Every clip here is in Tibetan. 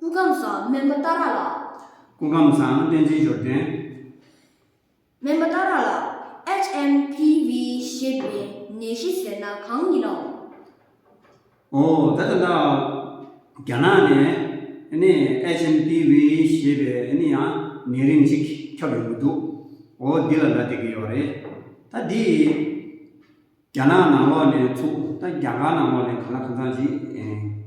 སྐུ་ཁམས་བཟང་སྨན་པ་རྟ་རག་ལགས། སྐུ་ཁམས་བཟང་བསྟན་འཛིན་འབྱོར་ལྡན། སྨན་པ་རྟ་རག་ལགས HMPV ཞེས་པའི་ནད་གཞི་ཟེར་ན་གང་ཡིན་ནམ། འོ་ད་ལྟ་ན་རྒྱ་ནག་ནས HMPV ཞེས་པའི་ནད་ཡང་ནད་རིགས་གཅིག་ཁྱབ་ཡོང་གི་འདུག་འོ་འདི་ལ་ལ་དེ་གི་ཡོག་རེད་ད་འདི། རྒྱ་ནག་ནང་ལོགས་ནས་ཚུགས་ད་རྒྱ་གར་ནང་ལོགས་ནས་ག་ལ་གང་ཚང་ཞིག་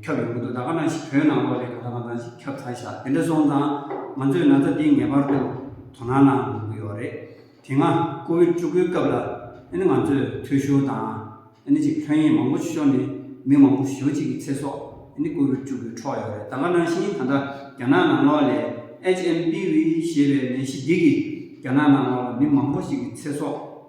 ཁྱབ་ཡོང་གི་འདུག་ད་ག་ནང་བོད་ནང་ལོགས་ནས་ག་ལ་གང་ཚང་ཞིག་ཁྱབ་ཚར་ཤག་དེ་འདྲ་སོང་ཙང་ང་ཚོས་ན་ཚ་འདི་ངེས་པར་དུ་དོ་སྣང་གནང་དགོས་ཀྱི་ཡོད་རེད་དེ་སྔ་ཀོ་བིད་བཅུ་དགུའི་སྐབས་ལ་ཨ་ནི་ང་ཚོས་ཐུ་ཤོ་དང་ཨ་ནི་ཅིག་ལྷོད་གཡེང་མང་པོ་ཤོར་ནས་མི་མང་པོ་ཞོ་གཅིག་གི་ཚེ་སྲོག་ཨ་ནི་ཀོ་བིད་བཅུ་དགུའི་འཕྲོག་ཡོད་རེད་ད་ག་ནང་བཞིན་ད་ལྟ་རྒྱ་ནག་ནང་ལོགས་ལས HMPV ཞེས་པའི་ནད་གཞི་འདི་གིས་རྒྱ་ནག་ནང་ལོགས་ལ་མི་མང་པོ་ཞིག་གི་ཚེ་སྲོག།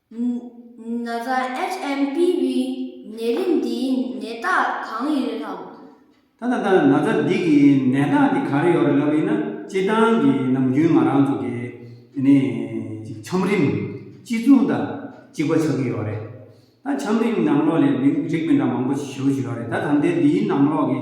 ན་ད HMPV ནད་རིགས་འདིའི་ནད་རྟགས་གང་ཡོད་དམ། ད་ད་ད་ན་ད་འདི་གི་ནད་རྟགས་འདི་ག་རེ་ཡོད་རེད་ལབ་ཡིན་ན་སྤྱི་བཏང་གི་ནམ་རྒྱུན་ང་རང་ཚོ་གི་དེ་ནས་ཅིག་ཆམ་རིམས་གཅིག་མཚུངས་ད་གཅིག་པ་ཆགས་ཀྱི་ཡོད་རེད་ད་ཆམ་རིམས་ནང་ལོགས་ལས་མི་རིགས་མི་འདྲ་མང་པོ་ཞིག་ཞུ་གི་ཡོད་རེད་ད་ད་ལྟའི་འདིའི་ནང་ལོགས་ཀྱི།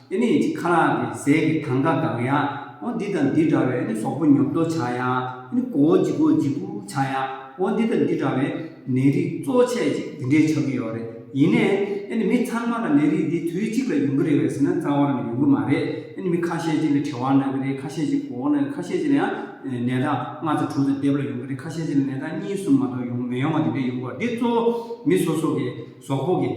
དེ་ནས་ཡི་གེ་ཁ་ལག་གི་ཟས་ཀྱི་ཐང་ཀ་གང་ཡང། འདི་དང་འདི་འདྲ་བའི་ཟོག་པོ་ཉོབ་ཏོ་བྱ་ཡང། མགོ་བོ་འཇིག་གོ་འཇིག་གུ་བྱ་ཡང། འདི་དང་འདི་འདྲ་བའི་ནད་རིགས་གཙོ་ཆེ་ཅིག་འདི་འདྲའི་ཆགས་ཀྱི་ཡོད་རེད། ཡིན་ནའི། མི་ཚང་མ་ལ་ནད་རིགས་འདི་དུས་གཅིག་ལ་ཡོང་གི་རེད་བས་ཟེར་ན་རྩ་བ་རང་ཡོང་གི་མ་རེད། མི་ཁ་ཤས་ཅིག་ལ་དྲི་བ་ན་གི་རེད་ཁ་ཤས་ཅིག་གོ་བ་ན་གི་ཁ་ཤས་ཅིག་ལ་ཡང་ནད་རྟགས་ལྔ་དང་དྲུག་དང་བརྒྱད་པ་ལ་ཡོང་གི་རེད་ཁ་ཤས་ཅིག་ལ་ནད་རྟགས་གཉིས་གསུམ་མ་གཏོགས་ཡོང་མི་ཡོང་བ་དེ་འདྲས་ཡོང་གི་འདི་གཙོ་བོ་མི་སོ་སོ་གི་ཟོག་པོ་གི།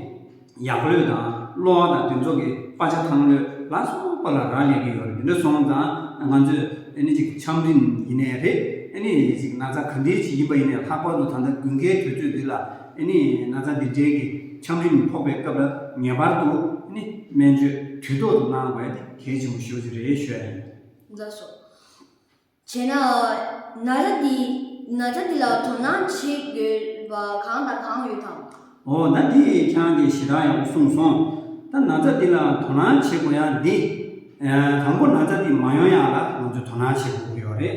ཡག་པོ་ལོས་དང་གློ་བ་དང་དུས་ཚོགས་ཀྱི་དཔའ་ཆ་ཐང་ལོས་ལ་སོགས་པ་ལ་རག་ལས་ཀྱི་ཡོད་རེད་དེ་འདྲ་སོང་ཙང་ང་ཚོས་ཨ་ནི་ཅིག་ཆམ་རིམ་ཡིན་ནའི་རེད་ཨ་ནི་ཅིག་ན་ཚ་ག་འདྲའི་ཞིག་ཡིན་པ་ཡིན་ནའི་ལྷག་པར་དུ་ད་ལྟ་དགུན་ཁའི་དུས་ཚོད་འདི་ལ་ཨ་ནི་ན་ཚ་འདི་འདྲའི་གི་ཆམ་རིམ་ཕོག་པའི་སྐབས་ལ་ངེས་པར་དུ་ཨ་ནི་སྨན་བཅོས་དུས་ཐོག་ཏུ་གནང་བས་གལ་ཆེན་པོ་ཤོས་ཤིག་རེད་ཤོད་ཨ་ནི། རྫ་སོགས། བྱས་ན། ན་ར་འདི་ན་ར་འདི་ལ་དོ་སྣང་བྱེད་དགོས་པ་གང་དང་གང་ཡོད་དམ། འོ་ན་འདི་ཁྱང་གི་ཞེ་དྲག་ཡང་གསུངས་སོང། ད་ན་ར་འདི་ལ་དོ་སྣང་བྱེད་དགོས་ཡང་འདི། དང་པོ་ན་ར་འདི་མ་ཡོང་ཡང་ལ་ང་ཚོས་དོ་སྣང་བྱེད་དགོས་ཀྱི་ཡོད་རེད།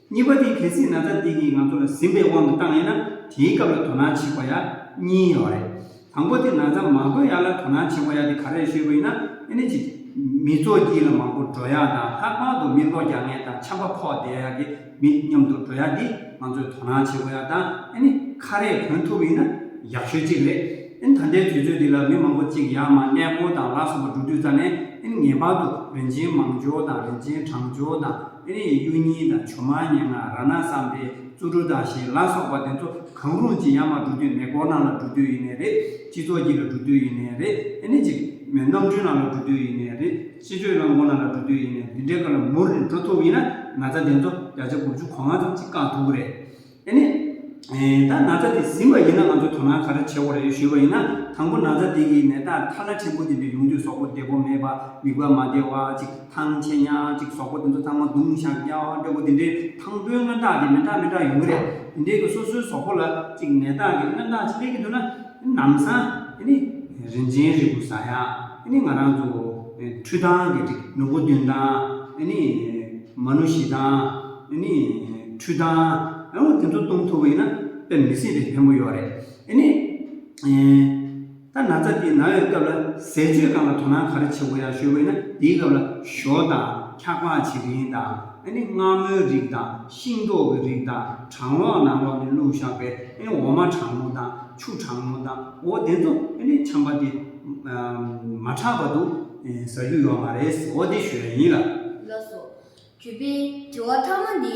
གཉིས་པ་འདི་གལ་སྲིད་ན་ར་འདི་གིས་ང་ཚོ་ལ་ཟིན་པའི་དབང་གིས་བཏང་ཡོད་ན་དེའི་སྐབས་ལ་དོ་སྣང་བྱེད་དགོས་ཡང་གཉིས་ཡོད་རེད། དང་པོ་དེ་ན་ཚ་མ་དགོས་ཡག་ལ་དོ་སྣང་ཆེན་པོ་ཡག་དེ་ག་རེ་ཤོད་པོ་ཡིན་ན་ཨེ་ནི་ཅིག། མི་ཚོགས་སྐྱིད་ལ་མང་པོ་འགྲོ་ཡག་དང་ལྷག་པར་དུ་མི་ལོ་བརྒྱ་ངན་དང་ཆམ་པ་ཕོག་བསྡད་ཡག་གི་མི་མཉམ་དུ་འགྲོ་ཡག་འདི་ང་ཚོས་དོ་སྣང་ཆེན་པོ་ཡག་དང་ཨེ་ནི་ཁ་རས་གྱོན་ཐུབ་པོ་ཡིན་ན་ཡག་ཤོས་གཅིག་རེད་ཨེ་ནི་ད་ལྟའི་དུས་ཚོད་འདི་ལ་མི་མང་པོ་གཅིག་ཡག་མ་གནས་སྤོ་དང་ལག་སོག་པོ་འགྲོ་དུས་རྩ་ནས་ཨེ་ནི་ངེས་པར་དུ་རིན་ཆེན་མང་འབྱོར་དང་རིན་ཆེན་གྲང་འབྱོར་དང་ཨེ་ནི་གཡུ་སྙིང་དང་བྱུ་མ་སྙན་ངག་ར་ན་བསམ་པའི་རྩུབ་རུ་དང་ཞེས་ལག་སོག་པ་དེ་ཚོ་གང་རུང་གཅིག་ཡང་མ་བསྒྲུབ་རྒྱུ་ནས་སྐོར་ནང་ལ་བསྒྲུབ་རྒྱུ་ཡིན་ནས་རེད། སྤྱི་ཚོགས་ཀྱི་ལ་བསྒྲུབ་རྒྱུ་ཡིན་ནས་རེད། ཨེ་ནས་ཅིག། ནམ་གྲོན་ནང་ལ་བསྒྲུབ་རྒྱུ་ཡིན་ནས་རེད། སྤྱི་འགྲོས་རླངས་འཁོར་ནང་ལ་བསྒྲུབ་རྒྱུ་ཡིན་ནས་འདི་འདྲའི་སྐོར་ལ་མུར་རེ་འགྲོ་ཐུབ་ཡིན་ན་ན་ཚ་དེ་ཚོ་བརྒྱ་ཆ་དགུ་བཅུ་གོ་ལྔ་ཙམ་གྱིས་བསྐང་ཐུབ་གི་རེད། ཨེ་ནས། ད་ན་ཚ་དེ་ཟིན་པ་ཡིན་ན་ང་ཚོས་དོ་སྣང་ག་རེ་བྱེད་དགོས་རེད་ཞུས་པ་ཡིན་ན་དང་པོ་ན་ཚ་དེ་གིས་ནད་རྟགས་ཐ་ལ་ཕྲན་བུ་དེ་འདྲ་ཡོང་དུས་སོག་པོ་བདེ་པོ་མེད་པ་མིག་དཔེ་མ་བདེ་བ་ཅིག། ཐང་ཆེན་ཡང་གཅིག་ཟོག་པོ་དེ་ཚོ་ཚང་མ་རྡུང་བཞག་རྒྱ་བ་འདྲ་པོ་དེ་འདྲའི་ཐང་པོའི་སྔོན་རྟགས་དེ་མི་འདྲ་མི་འདྲ་ཡོང་གི་རེད། དེ་འདྲའི་གི་སོ་སོའི་ཟོག་པོ་ལ་གཅིག་ནད་རྟགས་ཀྱི་སྔོན་རྟགས་ཅིག་སླེབས་ཀྱི་འདུག་ན། དེ་ནམ་སང་དེ་ནི་རིན་ཆེན་རིལ་བུ་ཟ་ཡག་དེ་ནི་ང་རང་ཚོ་འཕྲུལ་ཐང་གི་འགྲིག་ནུ་བོ་བདུན་ཐང་དེ་ནི་མ་ནུ་བཞི་ཐང་དེ་ནི་འཕྲུལ་ཐང་ཨའོ་དེ་ཚོ་གཏོང་ཐུབ་པ་ཡིན་ན་དཔེ་མི་སྲིད་པའི་བེམ་པོ་ཡོད་རེད་དེ་ནི། ད་ན་ཚ་དེའི་ན་འོས་སྐབས་ལ་ཟས་སྤྱོད་གང་ལ་དོ་སྣང་ག་རེ་བྱེད་དགོས་ཡང་ཞུས་དགོས་ན་དེའི་སྐབས་ལ་ཞོ་དང་འཁྱག་པགས་བྱེ་རིན་དང་ཨ་ནི་མངར་མོའི་རིགས་དང་ཤིང་ཏོག་གི་རིགས་དང་གྲང་ལོག་ནང་ལོག་ནས་བླུགས་བཞག་པའི་ཨ་ནི་འོ་མ་གྲང་མོ་དང་ཆུ་གྲང་མོ་དང་འོ་དེ་ཚོ་ཨ་ནི་ཆམ་པ་དེ་མ་ཁྲག་པ་དུ་ཟ་རྒྱུ་ཡོད་མ་རེད་འོ་དེ་ཞོ་ཡིན་ལ། ལགས་སོ། གུས་པས་དྲི་བ་ཐ་མ་འདི།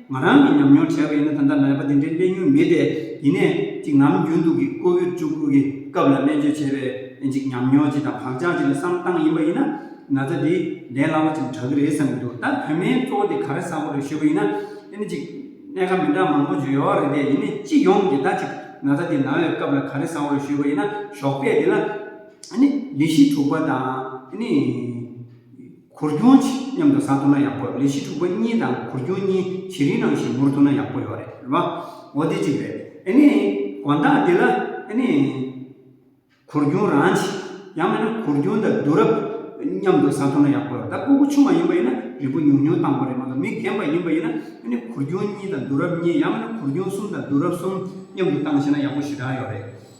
ང་རང་གིས་ཉམས་མྱོང་བྲལ་བ་ཡིན་ན་ད་ལྟ་ནད་པ་དེ་འདྲའི་གླེང་ཡུལ་མེད་དེ། ཡིན་ནས་ཅིག་ནམ་རྒྱུན་དུ་གི་ཀོ་བིར་བཅུ་དགུ་གི་སྐབས་ལ་སྨན་བཅོས་བྱས་པའི་ཅིག་ཉམས་མྱོང་ཅིག་དང་བག་ཆགས་ཅིག་ལ་བསམ་བཏང་ཡིན་པ་ཡིན་ན། ན་ཚ་འདི་ལས་སླ་བོ་ཅིག་དྲག་གི་རེད་བསམ་གྱི་འདུག་ད་བོད་མའི་གཙོ་བོ་དེ་ག་རེ་ས་བོ་རེད་ཞུས་པ་ཡིན་ན། ཨེ་ནི་ཅིག་གནད་ཀ་མི་འདྲ་མང་པོ་བརྗོད་ཡོའོ་རེད་དེ་ཡིན་ནས་སྤྱི་ཡོངས་ཀྱི་ད་ཅིག་ན་ཚ་འདི་ན་བའི་སྐབས་ལ་ག་རེ་ས་བོ་རེད་ཞུས་པ་ཡིན་ན་ཞོགས་པས་དེ་ལ། ཨེ་ནི་ལི་ཤི་དྲུག་པ་དང་ཨེ་ནི། གུར་རྒྱུན་ཕྱི་མཉམ་དུ་ཟ་ཐུབ་ན་ཡག་པོ་ལས་ཕྱི་དྲུག་པ་གཉིས་དང་གུར་རྒྱུན་གཉིས་ཇེ་རིང་ནང་ཞིག་འབུར་ཐུབ་ན་ཡག་པོ་ཡོད་རེད་བ་འོ་དེ་གཅིག་རེད་ཨེ་ནས་དགོན་བདག་འདི་ལ་ཨེ་ནས་གུར་རྒྱུན་རང་གཅིག་ཡང་མེད་ན་གུར་རྒྱུན་དང་བསྡུ་རབས་མཉམ་དུ་ཟ་ཐུབ་ན་ཡག་པོ་ཡོད་ད་སྤོ་བོ་ཆུང་བ་ཡིན་པ་ཡིན་ན་རིན་པོ་ཉུང་ཉུང་བཏང་པ་རེད་མ་གཏོགས་མི་རྒན་པ་ཡིན་པ་ཡིན་ན་ཨེ་ནས་གུར་རྒྱུན་གཉིས་དང་བསྡུ་རབས་གཉིས་ཡང་མེད་ན་གུར་རྒྱུན་གསུམ་དང་བསྡུ་རབས་གསུམ་མཉམ་དུ་བཏང་ཤེས་ན་ཡག་པོ་ཞེ་དྲག་ཡོད་རེད།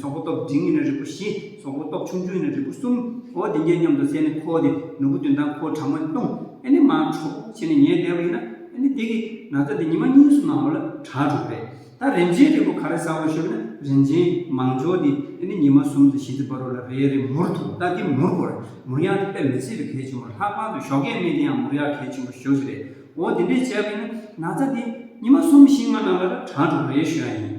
སོག་པོ་སྟོབས་འབྲིང་ཡིན་ན་རིལ་བུ་བཞི། སོག་པོ་སྟོབས་ཆུང་ཆུང་ཡིན་ན་རིལ་བུ་གསུམ། འོ་དེ་འགྱེལ་སྙམ་དུ་བསད་ནས་ཁོ་དེ་ནོར་བུ་བདུན་དང་ཁོའི་བྲག་དམར་བཏུང། ཨེ་ནི་མ་འཕྲོག་ཕྱིན་ནས་ཉལ་བསྡད་པ་ཡིན། ཨེ་ནི་དེ་གིས་ན་ཚ་འདི་ཉི་མ་གཉིས་སུ་གནང་བ་ལ་བྲག་དྲུག་རེད། ད་རིན་ཆེན་རིལ་བུ་ག་རེ་ཟ་བར་ཤོད་ན་རིན་ཆེན་མང་ཆོག་འདི་ཨེ་ནི་ཉི་མ་གསུམ་དང་བཞི་ཙི་བར་རོ་ལ་རེ་རེ་མུར་འཐུང་ད་འདི་མུར་བོར། མུར་ཡང་དེ་དཔེ་མི་སྲིད་པའི་གལ་ཆེན་པོར་ལྷག་པང་དུ་ཞོག་གད་སྨྲས་དེ་ཡང་མུར་ཡག་གལ་ཆེན་པོར་ཞོག་ཞིག་རེད། འོ་དེ་འདྲས་བྱས་པ་ཡིན་ན་ན་ཚ་འདི་ཉི་མ་གསུམ་བཞི་ལྔ་གནང་བ་ལ་བྲག་དྲུག་རེ་ཤོད་ཡིན།